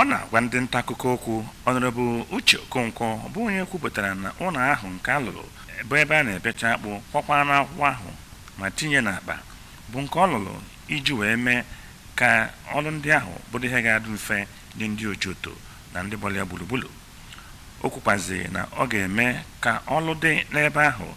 ọ na-agwa ndị nta akụkọ okwu Honorable Uche Okonkwo bụ onye kwupụtara na ụlọ ahụ nke a lụrụ bụ ebe a na-ebecha akpụ kwakwa n'akwụkwọ ahụ ma tinye n'akpa bụ nke ọ lụrụ iji wee mee ka ọrụ ndị ahụ bụrụ ihe ga-adị mfe nye ndị Ojoto na ndị gbara ya gburugburu O kwukwazị na ọ ga-eme ka ọlụ dị n'ebe ahụ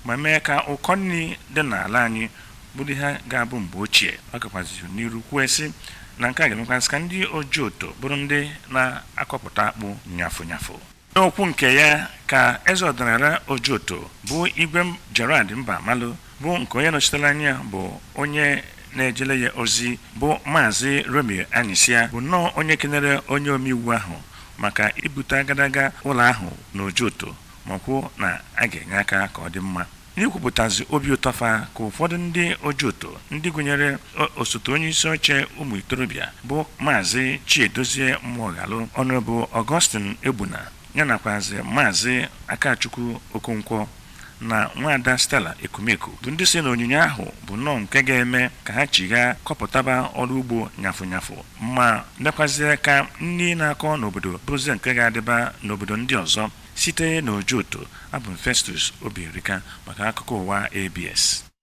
ma mee ka ụkọ nri dị n'ala anyị bụrụ ihe ga-abụ mgbe ochie. Ọ gakwazị n'iru kwue sị na nke a ga-emekwazị ka ndị Ojoto bụrụ ndị na-akọpụta akpụ nyafụ nyafụ. N'okwu nke ya ka Eze ọdịnala Ojoto bụ Igwe Gerald Mbamalu bụ nke onye nọchitere anya ya bụ onye na-ejere ya ozi bụ Maazị Romeo Anyịsịa bụ nnọọ onye kenere onye omeiwu ahụ maka ibute agadaga ụlọ ahụ n'Ojoto ma kwuo na a ga-enye aka ka ọ dị mma n'ikwupụtazi obi ụtọ fa ka ụfọdụ ndị Ojoto ndị gụnyere osote onye isi oche ụmụ itorobịa bụ Maazị Chiedozie Mmụọghalụ Honorable Augustine Egbuna ya nakwazi Maazị Akachukwu Okonkwo na nwaada Stella Ekumeku bụ ndị sị na onyinye ahụ bụ nnọọ nke ga-eme ka ha chighaa kọpụtaba ọrụ ugbo nyafụ nyafụ ma mekwazie ka nri na-akọ n'obodo bụrụzie nke ga-adịba n'obodo ndị ọzọ site n'Ojoto abụ m Festus Obierika maka akụkọ ụwa ABS